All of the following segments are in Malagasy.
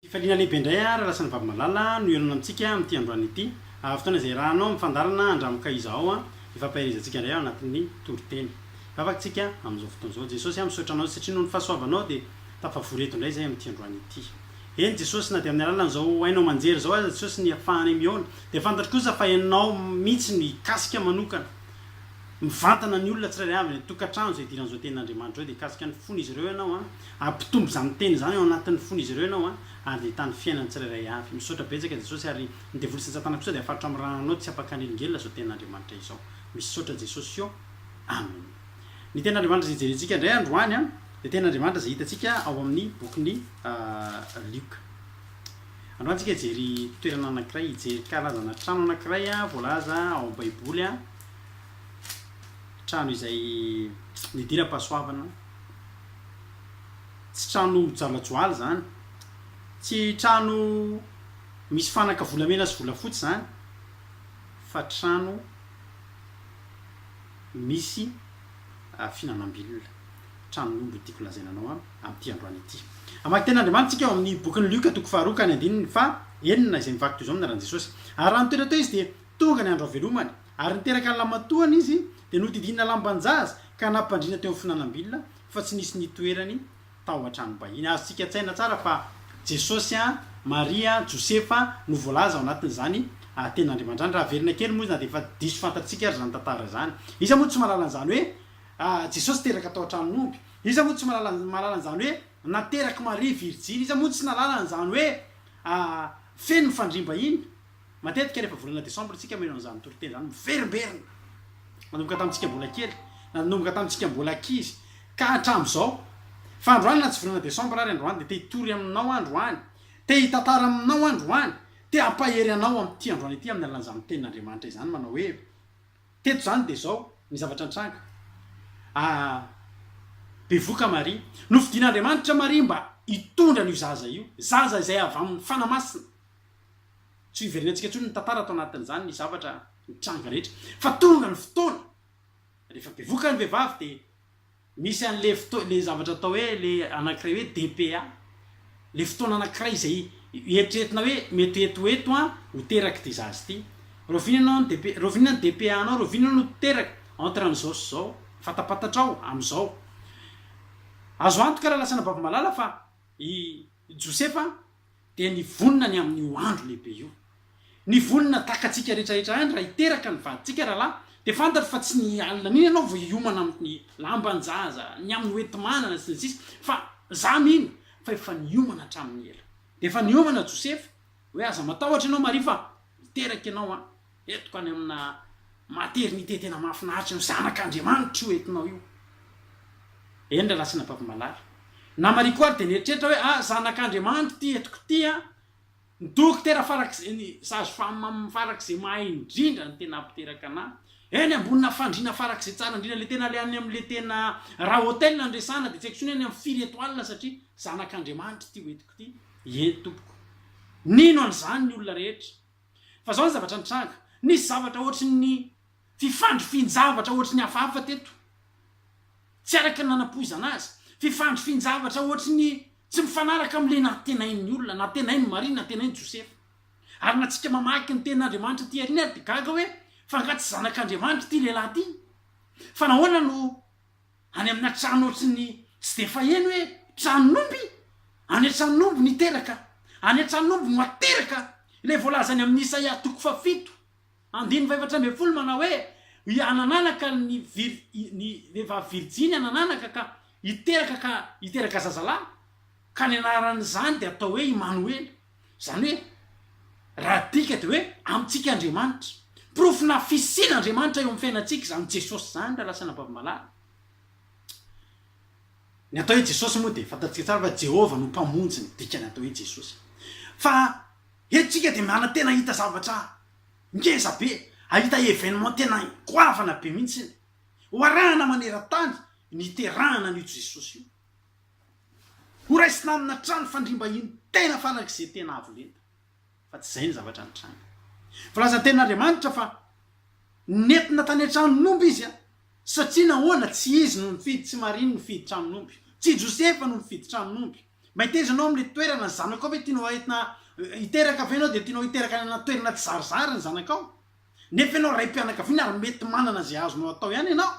Fifaliana lehibe indray ary Alasan'i Vavimalala no hihaonana amintsika amin'ity androany ity. Ahavitana izay rahanao amin'ny fandaharana Andramoka Iza Aho hifampaherezantsika indray ao anatin'ny toriteny. Vavaka tsika amin'izao fotoana izao. Jesosy aho misaotra Anao satria noho ny fahasoavanao dia tafavory eto indray izay amin'ity androany ity. Eny Jesosy na dia amin'ny alalan'izao haino aman-jery izao aza Jesosy ny afahanay mihaona dia fantatro kosa fa Ianao mihitsy no hikasika manokana mivantana ny olona tsirairay avy any an-tokantrano izay idiran'izao tenin'Andriamanitra izao dia hikasika ny fon'izy ireo Ianao an. Hampitombo izany teny izany ao anatin'ny fon'izy ireo ianao ary dia hitany fiainana tsirairay avy. Misaotra betsaka Jesosy ary ny devoly sy ny satana kosa dia hafaritra amin'ny rananao tsy hampakan'elingelina izao tenin'Andriamanitra izao. Misaotra Jesosy ô! Amen. Ny tenin'Andriamanitra izay hijerentsika indray androany an, dia tenin'Andriamanitra izay hitantsika ao amin'ny bokin'i Lioka. Androany tsika hijery toerana anankiray, hijery karazana trano anankiray voalaza ao amin'ny baiboly, trano izay nidiram-pahasoavana, Tsy tranomby joalajoala izany. Tsy trano misy fanaka volamena sy volafotsy izany, fa trano misy fihinanam-bilona. Tranon'omby no tiako lazaina anao amin'ity androany ity. Hamaky tenin'Andriamanitra isika ao amin'ny bokin'i Lioka toko faharoa ka ny andininy faha enina izay mivaky toy izao ny anaran'i Jesosy. Ary raha nitoetra teo izy dia tonga ny andro havelomany. Ary niteraka ny lamatoany izy, dia nodidinina lamban-jaza ka nampandriana teo amin'ny finanam-bilona, fa tsy nisy nitoerany tao an-tranom-bahiny. Azontsika an-tsaina tsara fa Jesosy, Maria, Josefa no voalaza ao anatin'izany Antenandriamanitra izany. Raha haverina kely moa izy, na dia efa diso fantatsika aza izany tantara izany. Iza moa no tsy mahalala an'izany hoe Jesosy teraka tao an-tranon'omby? Iza moa no tsy mahalala an'izany hoe naterak'i Maria virijiny? Iza moa no tsy nahalala an'izany hoe feno ny fandriam-bahiny? Matetika rehefa volana desambra tsika mino an'izany toriteny izany miverimberina. Nanomboka tamintsika mbola kely, nanomboka tamintsika mbola ankizy ka hatramin'izao. Fa androany na tsy volana desambra ary androany dia te hitory aminao androany, te hitantara aminao androany, te hampahery anao amin'ity androany ity amin'ny alalan'izany tenin'Andriamanitra izany manao hoe, teto izany dia izao ny zavatra nitranga. Ah, bevoka Maria. Nofidin'Andriamanitra Maria mba hitondra an'io zaza io, zaza izay avy amin'ny Fanahy Masina. Tsy hiverenantsika intsony ny tantara ato anatin'izany ny zavatra nitranga rehetra fa tonga ny fotoana rehefa bevoka ny vehivavy dia misy an'ilay fotoana ilay zavatra atao hoe ilay anankiray hoe DPA ilay fotoana anankiray izay eritreretina hoe mety ho eto ho eto an ho teraka ity zaza ity rahoviana ianao ny DPA rahoviana ny DPA anao rahoviana ianao no teraka entre an'izao sy izao fantapatatrao amin'izao azo antoka raha lasana baby malala fa i Josefa dia ny vonona ny amin'io andro lehibe io. Ny vonona takatsika rehetrarehetra any raha hiteraka ny vadintsika rahalahy dia fantatro fa tsy ny alina an'iny ianao vao hiomana amin'ny lamban-jaza, ny amin'ny hoenti-manana sy ny sisa fa za mino fa efa niomana hatramin'ny ela. Dia efa niomana Josefa hoe aza matahotra ianao Maria fa hiteraka ianao an! Etiko any amina maternité tena mahafinaritra io, zanak' Andriamanitra io entinao io. Eny ry Ratsina Babimalala. Namariko ary dia nieritreritra hoe ah zanak' Andriamanitra ity etiko ity an! Ny dokotera farak'izay, ny sage femme farak'izay mahay indrindra ny tena mpiteraka anà. Eny ambonina fandriana farak'izay tsara indrindra, ilay tena ilay any amin'ilay tena raha hotel no resahana dia tsy haiko intsony any amin'ny firy étoile satria zanak' Andriamanitra ity ho etiko ity. Eny tompoko. Nino an'izany ny olona rehetra. Fa zao ny zavatra nitranga, nisy zavatra ohatry ny fifandrifian-javatra ohatry ny hafahafa teto, tsy araka ny nanapoizana azy, fifandrifian-javatra ohatry ny tsy mifanaraka amin'ilay nantenain'ny olona, nantenain'i Maria, nantenain'i Josefa. Ary na tsika mamaky ny tenin'Andriamanitra aty aoriana ary dia gaga hoe, fa angaha tsy zanak'Andriamanitra ity lehilahy ity? Fa nahoana no Any amina trano ohatrin'ny tsy dia faheno hoe tranon'omby, any an-tranon'omby niteraka, any an-tranon'omby no ateraka ilay voalazany amin'ny Isaia toko fahafito, andininy fahefatra ambin'ny folo manao hoe, Hanananaka ny vir, ny vehivavy virjiny hanananaka ka hiteraka ka hiteraka zazalahy, ka ny anaran'izany dia hatao hoe Imanoela. Izany hoe, raha adika dia hoe amintsika Andriamanitra. Porofonà fisian'Andriamanitra eo amin'ny fiainantsika izany Jesosy izany raha lasa anabavim-balahy. Ny atao hoe Jesosy moa dia fantantsika tsara fa Jehovah no Mpamonjy ny dikan'ny atao hoe Jesosy. Fa eto isika dia manantena hahita zavatra ngeza be, hahita événement tena goavana be mihitsy. Ho arahana maneran-tany ny hiterahana an'io Jesosy io. Ho raisina amina trano fandriam-bahiny tena farak'izay tena avo lenta. Fa tsy izay ny zavatra nitranga. Voalazan' ny Tenin'Andriamanitra fa nentina tany an-tranon'omby izy. Satria nahoana? Tsy izy no nifidy, tsy Maria no nifidy tranon'omby, tsy Josefa no nifidy tranon'omby. Mba hitaiza anao amin'ilay toerana ny zanakao ve? Tianao entina hiteraka ve ianao dia tianao hiteraka any anaty toerana tsizarizary ny zanakao? Nefa ianao raim-pianakaviana ary mety manana izay azonao atao ihany ianao.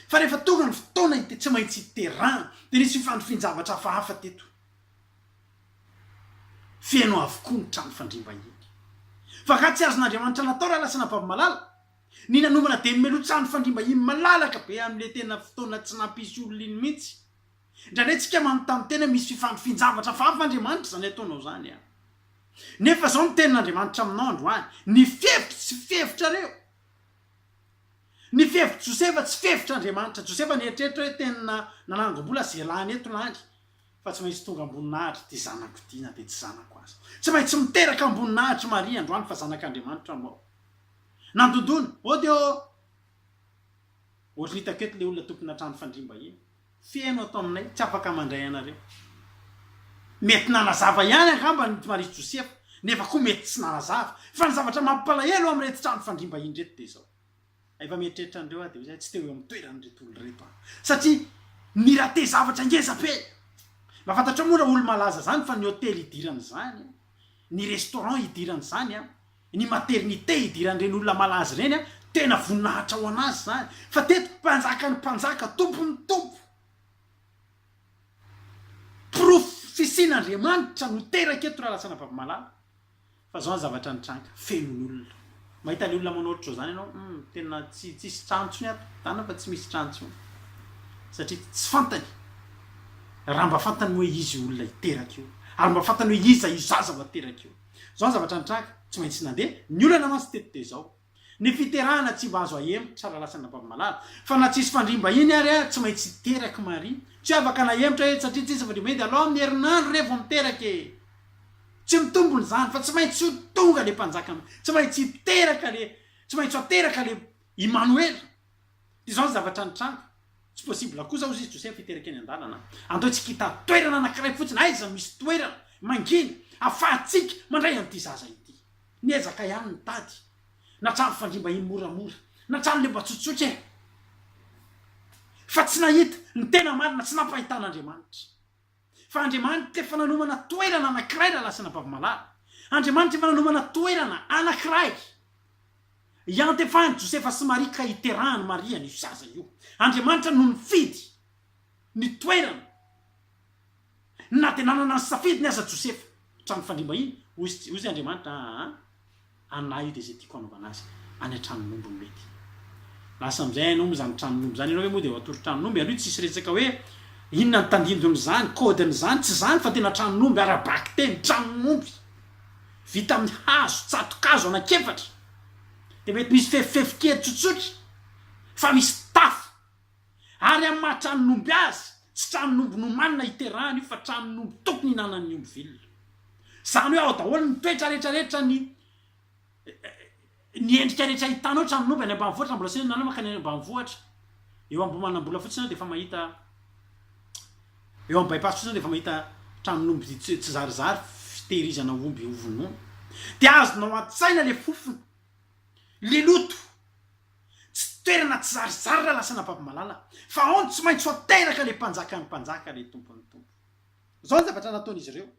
Fa rehefa tonga ny fotoana dia tsy maintsy iterahana. Dia nisy fifandrifian-javatra hafahafa teto. Feno avokoa ny trano fandriam-bahiny. Fa angaha tsy azon'Andriamanitra natao raha lasa nababo-malala? Ny nanomana dia nomeloha trano fandriam-bahiny malalaka be amin'ilay tena fotoana tsy nampisy olona iny mihitsy. Indraindray tsika manontany tena hoe misy fifandrifin-javatra hafahafa Andriamanitra izany ataonao izany an? Nefa izao no tenin'Andriamanitra aminao androany, ny fihevitro tsy fihevitrareo. Ny fihevitr'i Josefa tsy fihevitr'Andriamanitra. Josefa nieritreritra hoe teny na nanangom-bola ze lany eto lany fa tsy maintsy tonga am-boninahitry ty zanako ty na dia tsy zanako aza. Tsy maintsy miteraka am-boninahitry Maria androany fa zanak'Andriamanitra moa. Nandondona, oh dia oh! Ohatry ny hitako eto le olona tompon'atrano fandriam-bahiny. Feno ato aminay, tsy afaka mandray anareo. Mety nanazava ihany angamba ny Marie Josefa, nefa koa mety tsy nanazava. Fa ny zavatra mampalahelo ao amin'ireto trano fandriam-bahiny ireto dia izao, efa mieritreritra an'ireo aho dia izahay tsy teo eo amin'ny toeran'ireto olona ireto aho, satria ni-rater zavatra ngeza be. Mba fantatrao moa raha olo-malaza izany fa ny hotely idirany izany, ny restaurant idirany izany, Ny maternité idiran-dren'olona malaza ireny an, tena voninahitra ho an'azy izany, fa teto mpanjakan'ny mpanjaka, tompon'ny tompo, porofo fisian'Andriamanitra no teraka eto raha lasanà Vavamalala, fa izao ny zavatra nitranga, feno ny olona, mahita ilay olona manao ohatr'izao izany ianao, hum, tena tsy tsisy trano intsony ato, zany fa tsy misy trano intsony, satria tsy fantany, raha mba fantany moa izy io olona io teraka io, ary mba fantany hoe iza io zaza vao teraka io. Zao ny zavatra nitranga, tsy maintsy nandeha, ny olana mantsy teto dia zao, ny fiterahana tsy mba azo ahemotra raha lasan'i Rabavimalala, fa na tsisy fandriam-bahiny ary tsy maintsy hiteraky Maria, tsy afaka nahemotra etsy satria tsisy fandriam-bahiny dia alao amin'ny herinandro re vao miteraka e! Tsy mitombona izany fa tsy maintsy ho tonga le mpanjaka, tsy maintsy hiteraka le, tsy maintsy ho ateraka le Imanoela. Izao ny zavatra nitranga, Tsy possible kosa hozy izy Joseph hiteraka eny an-dalana. Andao isika hitady toerana anankiray fotsiny aiza misy toerana mangina afahantsika mandray an'ity zaza ity. Niezaka ihany ny tady na trano fandriam-bahiny moramora na trano leba tsotsotra e! Fa tsy nahita ny tena marina, tsy nampahitana Andriamanitra. Fa Andriamanitra efa nanomana toerana anankiray lalasinà Bavimalaly. Andriamanitra efa nanomana toerana anankiray iantefan'i Josefa sy Maria ka hiterahan'i Maria an'io zaza io. Andriamanitra no nifidy ny toerana, na dia nanana ny safidiny aza Josefa. Trano fandriam-bahiny, hoy hoy Andriamanitra, aa. Anah io dia izay tiako hanaovana azy any an-tranon'omby no mety. Lasa amin'izay hainao moa izany tranon'omby izany, ianao ve moa dia matory tranon'omby? Aloha tsisy resaka hoe inona ny tandindon'izany, kaodin'izany, tsy izany fa tena tranon'omby ara-bakiteny, tranon'omby vita amin'ny hazo, tsato-kazo anankiefatra, dia mety misy fefifefy kely tsotsotra fa misy tafo. Ary amin'ny maha tranon'omby azy, tsy tranon'omby nomanina hiterahana io fa tranon'omby tokony hinanan'ny omby vilona. Izany hoe ao daholo ny toetra rehetra rehetra ny ny endrika rehetra hitanao tranon'omby any ambanivohitra, mbola tsy nihinanao mankany any ambanivohitra. Eo Ambohimanambola fotsiny ianao dia efa mahita eo amin'ny bypass fotsiny ianao dia efa mahita tranon'omby tsy tsizarizary fitehirizana omby hovonoina. Dia azonao an-tsaina le fofona, le loto. Tsy toerana tsy zarizary ralasana babimalala fa ao no tsy maintsy ho teraka le mpanjaka ny mpanjaka le tompo ny tompo zao ny zavatra nataon'izy ireo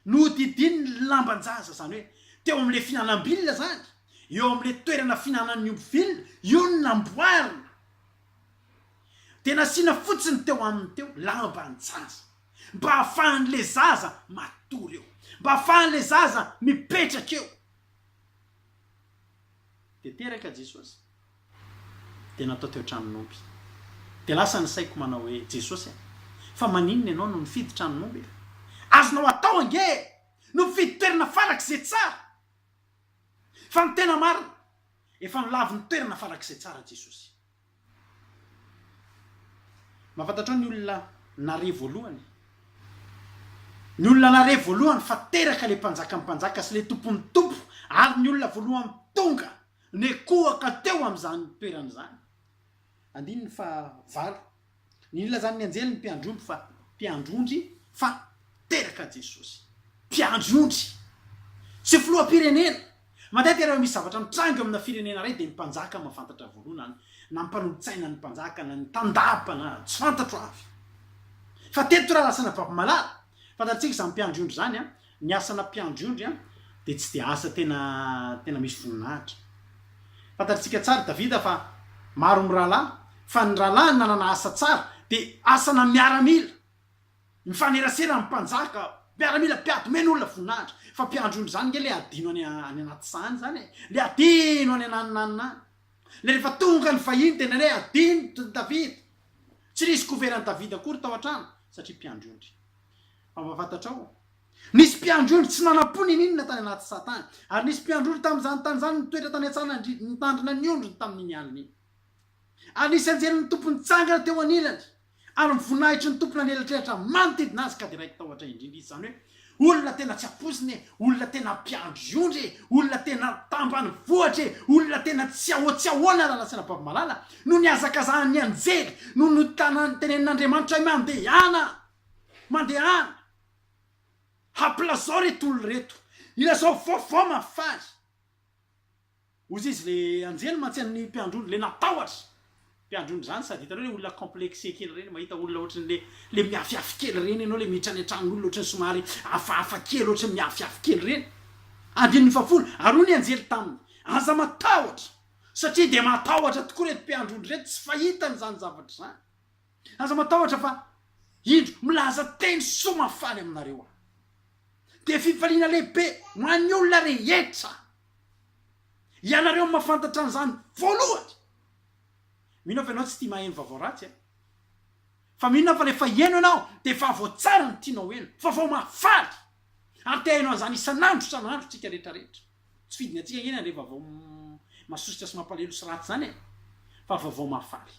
nohodidin'ny lambanjaza zany hoe teo amle fihinanambilona zany eo amle toerana fihinanan'ny omby vilona io no namboarina de nasiana fotsiny teo aminy teo lambanjaza mba afahan'le zaza matory eo mba afahan'le zaza mipetraka eo. Dia teraka Jesosy. Dia natao teo an-tranon'omby. Dia lasa ny saiko manao hoe, Jesosy a! Fa maninona ianao no nifidy tranon'omby e? Azonao atao ange e! No mifidy toerana farak'izay tsara! Fa ny tena marina, efa nolavin'ny toerana farak'izay tsara Jesosy. Mahafantatrao ny olona nare voalohany? Ny olona nare voalohany fa teraka ilay mpanjakan'ny mpanjaka sy ilay tompon'ny tompo ary ny olona voalohany tonga nekohaka teo amin'izany toerana izany. Andininy fahavalo. Nilazan'ny anjelin'ny mpiandry ondry fa mpiandry ondry fa teraka Jesosy. Mpiandry ondry! Tsy filoham-pirenena! Matetika rehefa misy zavatra mitranga eo amina firenena iray dia ny mpanjaka mahafantatra voalohany na ny mpanolotsaina ny mpanjaka na ny tandapa na tsy fantatro avy fa teto raha lasana baby malala. Fantatsika izany mpiandry ondry izany an! Ny asana mpiandry ondry an dia tsy dia asa tena tena misy voninahitra. Fantatritsika tsara i Davida fa maro ny rahalahy, fa ny rahalahiny nanana asa tsara dia asana miaramila, mifanerasera amin'ny mpanjaka, miaramila mpiady omena olona voninahitra. Fa mpiandry ondry izany nge le adino any any anaty saha izany e! Le adino any an'aninanina any. Le rehefa tonga ny vahiny dia indraindray adino Davida. Tsy nisy couvert an'i Davida akory tao an-trano satria mpiandry ondry. Ampahafantatrao, Nisy mpiandry-ondry tsy nanam-po nininona tany anaty satin, ary nisy mpiandry-ondry tamin'izany tany izany nitoetra tany an-tsanandridy nitandrina ny ondriny tamin'iny alina iny. Ary nisy anjelin'ny Tompo nitsangana teo anilany, ary ny voninahitry ny Tompo nanelatrelatra manodidina azy ka dia raiki tahotra indrindra izy, izany hoe, Olona tena tsy ampoizina e, olona tena mpiandry-ondry e, olona tena tambanivohitra e, olona tena tsy ahoa tsy ahoana raha lazaina baby malala, no nihazakazahan'ny anjely, no notanany, tenenin'Andriamanitra hoe, Mandehana! Mandehana! Hampilazao reto olona reto! Ilazao vaovao mahafaly! Hoy izy le anjely mantsy an'ny mpiandrony, le natahotra! Mpiandrony zany sady hitanao le olona complexe kely reny, mahita olona ohatran'ny le le miafihafy kely reny ianao, le miditra any an-tranon'olona ohatran'ny somary hafahafa kely, ohatran'ny miafihafy kely reny. Andininy fahafolo, ary hoy ny anjely taminy, Aza matahotra, satria dia matahotra tokoa reto mpiandrony reto, tsy fahitany izany zavatra izany. Aza matahotra fa indro milaza teny soa mahafaly aminareo aho. Dia fifaliana lehibe ho an'ny olona rehetra. Ianareo no mahafantatra an'izany voalohany. Mino aho fa ianao tsy tia maheno vaovao ratsy an! Fa mino aho fa ilay efa heno ianao dia vaovao tsara no tianao heno, vaovao mahafaly. Ary te haheno an'izany isan'andro isan'andro tsika rehetra rehetra. Tsy fidiny antsika ange ny handre vaovao masosotra sy mampalahelo sy ratsy izany e! Fa vaovao mahafaly.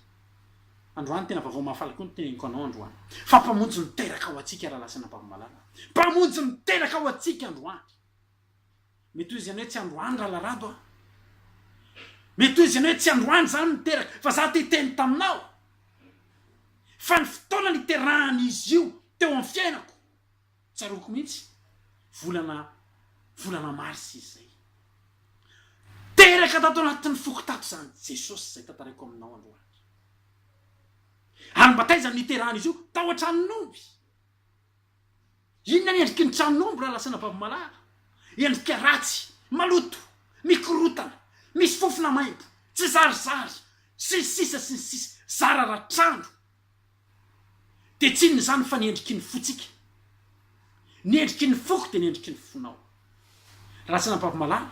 Androany tena vaovao mahafaly koa ny teneniko anao androany. Fa Mpamonjy miteraka ho antsika Rahalahy sy Anabavy-malala. Mpamonjy miteraka ho antsika androany. Mety ho izy ihany hoe tsy androany Rahalahy Rado a! Mety ho izy ihany hoe tsy androany izany niteraka, fa za te hiteny taminao fa ny fotoana niterahany izy io teo amin'ny fiainako, Tsaroako mihitsy, volana volana marsa izy izay. Teraka tato anatin'ny foko tato izany Jesosy izay tantaraiko aminao androany. Ary mba taiza no niterahan'izy io? Tao an-tranon'omby. Inona ny endriky ny tranon'omby raha lasanà babomalahara? Endrika ratsy, maloto, mikorotana, misy fofona maimbo, tsizarizary, sy ny sisa sy ny sisa. Zara raha trano. dia tsy inona izany fa ny endriky ny fontsika. Ny endriky ny foko dia ny endriky ny fonao. Raha tsy nampavomalala,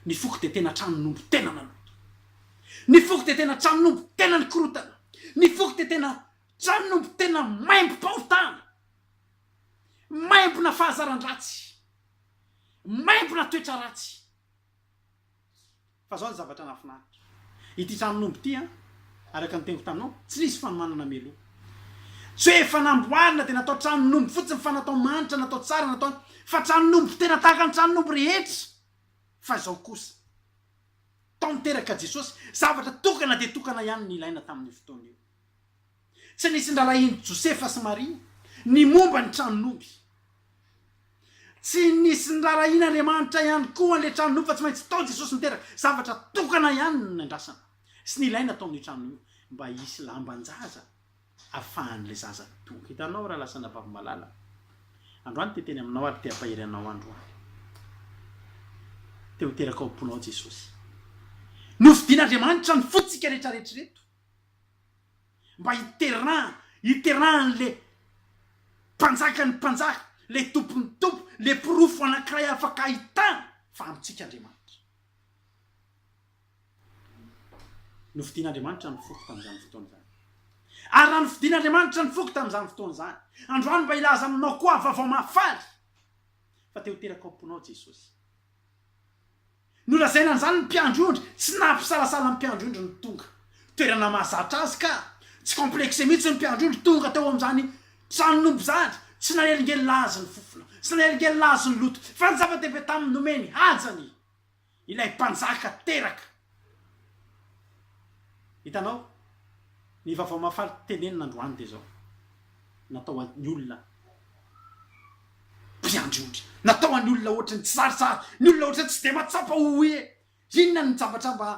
ny foko dia tena tranon'omby tena maloto. Ny foko dia tena tranon'omby tena nikorotana. Ny foko dia tena tranon'omby tena maimbom-pahotana, maimbona fahazaran-dratsy, maimbona toetra ratsy. Fa zao ny zavatra nahafinaritra. Ity tranon'omby ity an, araka ny teniko taminao, tsy nisy fanomanana mialoha. Tsy hoe efa namboarina dia natao tranon'omby fotsiny fa natao manitra, natao tsara, natao an, fa tranon'omby tena tahaka ny tranon'omby rehetra. Fa izao kosa. Tao niteraka Jesosy, zavatra tokana dia tokana ihany no nilaina tamin'io fotoana io. Tsy nisy niraharahian'i Josefa sy Maria ny momba ny tranon'omby. Tsy nisy niraharahian'Andriamanitra ihany koa an'ilay tranon'omby fa tsy maintsy tao Jesosy niteraka. Zavatra tokana ihany no niandrasana sy nilaina tao amin'io tranon'io io mba hisy lamban-jaza afahan'ilay zaza tonga. Hitanao raha lasa anabavy malala androany te teny aminao ary te hampahery anao androany. Te ho teraka ao am-ponao Jesosy. Nofidin'Andriamanitra ny fontsika rehetra rehetra ireto. Mba hiteraha, hiterahan'le Mpanjakan'ny mpanjaka, le Tompon'ny tompo, le porofo anankiray afaka ahitana fa amintsika Andriamanitra. Nofidin'Andriamanitra ny foko tamin'izany fotoana izany. Ary raha nofidin'Andriamanitra ny foko tamin'izany fotoana izany, androany mba hilaza aminao koa aho vaovao mahafaly, fa te ho teraka ao am-ponao Jesosy. Nolazaina an'izany ny mpiandry ondry, tsy nampisalasala ny mpiandry ondry ny tonga. Toerana mahazatra azy ka! Tsy complexé mihitsy ny mpiandry ondry tonga tao amin'izany tranon'omby izany, tsy nanelingelina azy ny fofona, tsy nanelingelina azy ny loto, fa ny zava-dehibe taminy nomeny haja ny Ilay Mpanjaka teraka. Hitanao? Ny Vaovao Mahafaly tenenina androany dia izao, Natao ho an'ny olona mpiandry ondry. Natao ho an'ny olona hoatry ny tsizarizary, ny olona hoatry ny tsy dia mahatsapa ho hoe inona ny zavatra mba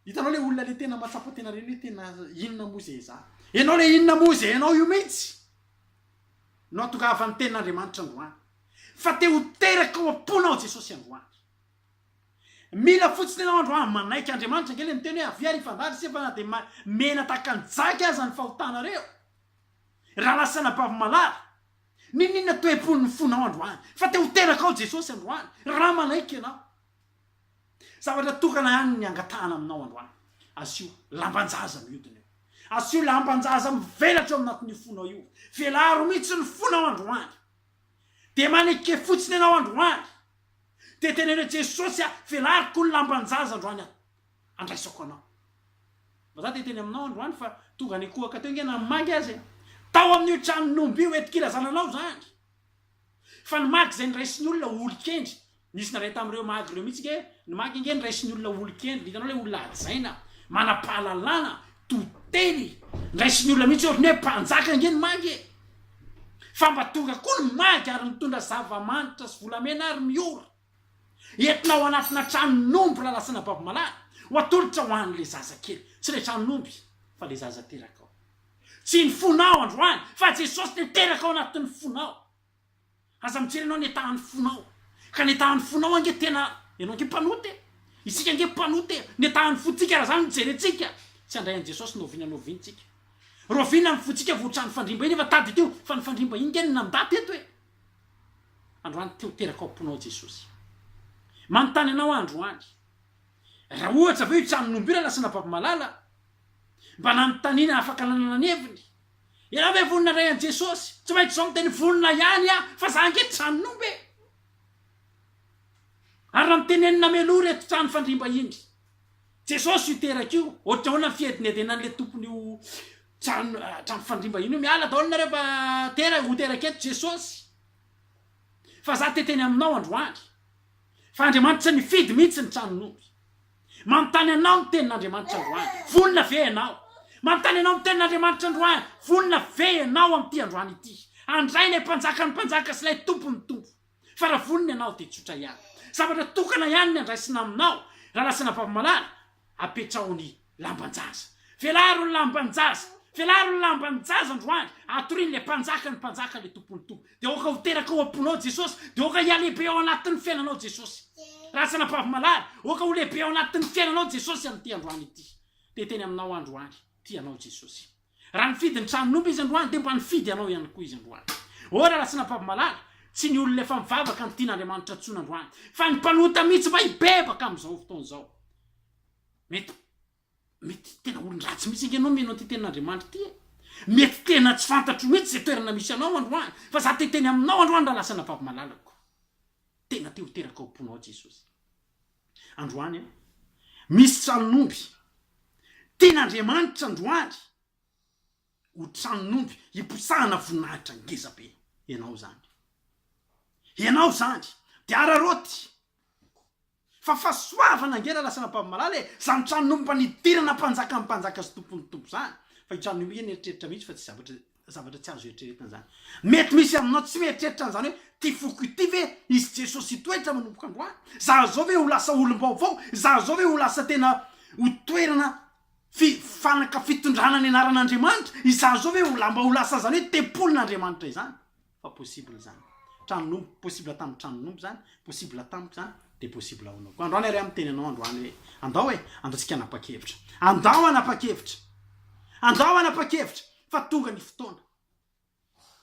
Hitanao ilay olona ilay tena mahatsapa tena ireny hoe tena inona moa izay za? Ianao ilay inona moa izay ianao io mihitsy no ahatongavan'ny tenin'Andriamanitra androany fa te ho teraka ao am-ponao Jesosy androany. Mila fotsiny ianao andro aho manaiky Andriamanitra ange le miteny hoe avia ry fandary se fa na de ma mena tahaka ny jaky aza ny fahotanareo raha lasa anabavy malala Ninoninona toepon'ny fonao androany fa te ho teraka ao Jesosy androany raha manaiky ianao Zavatra tokana ihany ny angatahana aminao androany Asio lamban-jaza mihodina eo Asio lamban-jaza mivelatra eo anatin'io fonao io Velaro mihitsy ny fonao androany Dia maneke fotsiny ianao androany Dia teneno Jesosy aho, velariko ny lamban-jaza androany aho, andraisako anao. Mba za te hiteny aminao androany fa tonga nikohaka teo nge na magy aza e. Tao amin'io tranon'omby io entin-kirazana anao zany. Fa ny magy zay niraisin'ny olona ho olon-kendry, nisy nandray tamin'ireo magy ireo mihitsy nge, ny magy nge niraisin'ny olona ho olon-kendry, hitanao ilay olona hajaina, manam-pahalalana, Toteny! Ndraisin'ny olona mihitsy otriny hoe mpanjaka ange ny magy e! Fa mba tonga koa ny magy ary mitondra zava-manitra sy volamena ary miora! Entina ao anatina tranon'omby lalasana babomalala ho atolotra ho an'ilay zazakely. Tsy ilay tranon'omby fa ilay zaza terakao. Tsy ny fonao androany fa Jesosy niteraka ao anatin'ny fonao. Aza mijery ianao ny etahan'ny fonao ka ny etahan'ny fonao ange tena ianao ange mpanota e! isika ange mpanota e! ny etahan'ny fontsika raha zany no jerentsika tsy handray an'i Jesosy no oviana noviantsika roviana ny fontsika vao ohatran'ny fandrimba iny efa tady teo fa ny fandrimba iny nge no nandà teto e! androany te ho teraka ao am-ponao Jesosy manontany anao aho androany raha ohatra ve io tranon'ombirana sy na baby malala mba nanontaniana afaka nanana ny heviny Ianao ve vonona handray an'i Jesosy? Tsy maintsy izao miteny vonona ihany aho fa za ange tsy zanon'omby e! Ary raha mitenenina meloha ireto trano fandriam-bahiny, Jesosy io teraka io, ohatrahoana ny fihedenhedenan'ilay tompon'io trano trano fandriam-bahiny io, miala daholo nareo fa tera ho teraka eto Jesosy fa za te teny aminao androany fa Andriamanitra nifidy mihitsy ny tranon'omby. Manontany anao ny tenin'Andriamanitra androany. Vonona ve ianao? Manontany anao ny tenin'Andriamanitra androany. Vonona ve ianao amin'ity androany ity? Handray ilay Mpanjakan'ny mpanjaka sy ilay Tompon'ny tompo. Fa raha vonona ianao dia tsotra ihany. Zavatra tokana ihany ny handraisina aminao raha lasa anabavy-malala, apetraho ny lamban-jaza. Velaro ny lamban-jaza. Velaro ny lamban-jaza androany. Atorian'ilay Mpanjakan'ny mpanjaka ilay Tompon'ny tompo. Dia aoka ho teraka ao am-ponao Jesosy, dia aoka hihalehibe ao anatin'ny fiainanao Jesosy. Ratsy anabavy malala, aoka ho lehibe ao anatin'ny fiainanao Jesosy amin'ity androany ity. Dia teny aminao androany, tia anao Jesosy. Raha nifidy ny tranon'omby izy androany, dia mba nifidy anao ihany koa izy androany. Ô ry ratsy anabavy malala, tsy ny olona efa mivavaka no tian'Andriamanitra intsony androany, fa ny mpanota mihitsy mba hibebaka amin'izao fotoana izao. Mety. Mety tena olon-dratsy mihitsy ange ianao mino an'ity tenin'Andriamanitra ity e! Mety tena tsy fantatro mihitsy izay toerana misy anao androany, fa za te hiteny aminao androany raha lasa anabavy malalako. Tena te ho teraka ao am-ponao Jesosy. Androany an! Misy tranon'omby. Tian'Andriamanitra androany ho tranon'omby hiposahana voninahitra ngeza be. Ianao izany. Ianao izany. Dia araraoty. Fa fahasoavana ange lalasanà mpamomalala e! Zany trano nomba nidirana mpanjakan'ny mpanjaka sy tompon'ny tompo zany. Fa io trano io mihintsy eritreritra mihitsy fa tsy zavatra zavatra tsy azo eritreretina zany. Mety misy aminao tsy mieritreritra an'izany hoe ty foko ity ve hisy Jesosy hitoetra manomboka androany? Za zao ve ho lasa olom-baovao? Za zao ve ho lasa tena ho toerana fi fanaka fitondrana ny anaran'Andriamanitra? Izaho zao ve ho lamba ho lasa an'izany hoe tempolin'Andriamanitra izany? Fa possible zany. Tranompo, possible tamin'ny tranompo zany, possible tamiko zany, dia possible ho anao koa. Androany ary aho miteny anao androany hoe, andao e, andao tsika hanapa-kevitra. Andao hanapa-kevitra. Andao hanapa-kevitra fa tonga ny fotoana.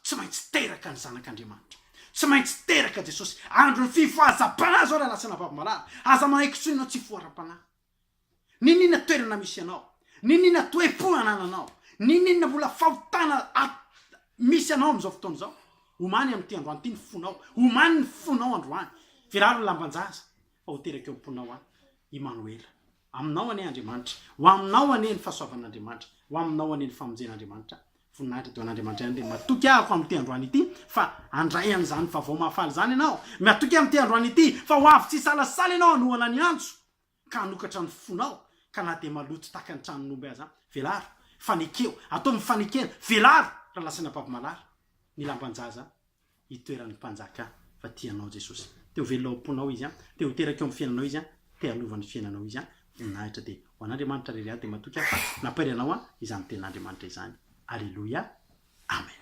Tsy maintsy teraka ny Zanak'Andriamanitra. Tsy maintsy teraka Jesosy. Andron'ny fifohazam-panahy izao raha lasana vavy malala. Aza manaiky intsony ianao tsy hifohara-panahy. N'inona toerana misy anao, n'inona toe-po anananao, n'inona mbola fahotana misy anao amin'izao fotoana izao, omany amin'ity androany ity ny fonao, omany ny fonao androany, firaro ny lamban-jaza fa ho teraka eo am-ponao aho, Imanoela. Aminao anie Andriamanitra, ho aminao anie ny fahasoavan'Andriamanitra, ho aminao anie ny famonjen'Andriamanitra. Voninahitra dia ho an'Andriamanitra ihany dia matoky aho amin'ity androany ity fa handray an'izany vaovao mahafaly izany ianao, matoky aho amin'ity androany ity fa ho avy tsy hisalasala ianao hanohana ny antso, ka hanokatra ny fonao ka na dia maloto tahaka ny tranon'omby aza, velaro, fa nekeo, ataovy ny fanekena, velaro, raha lasaina babomalala, ny lamban-jaza itoeran'ny mpanjaka fa tia anao Jesosy, te ho velona ao am-ponao Izy, te ho teraka eo amin'ny fiainanao Izy, te hanova ny fiainanao Izy, voninahitra dia ho an'Andriamanitra rery aho dia matoky aho fa nampairy anao izany tenin'Andriamanitra izany, Aleloia, Amen.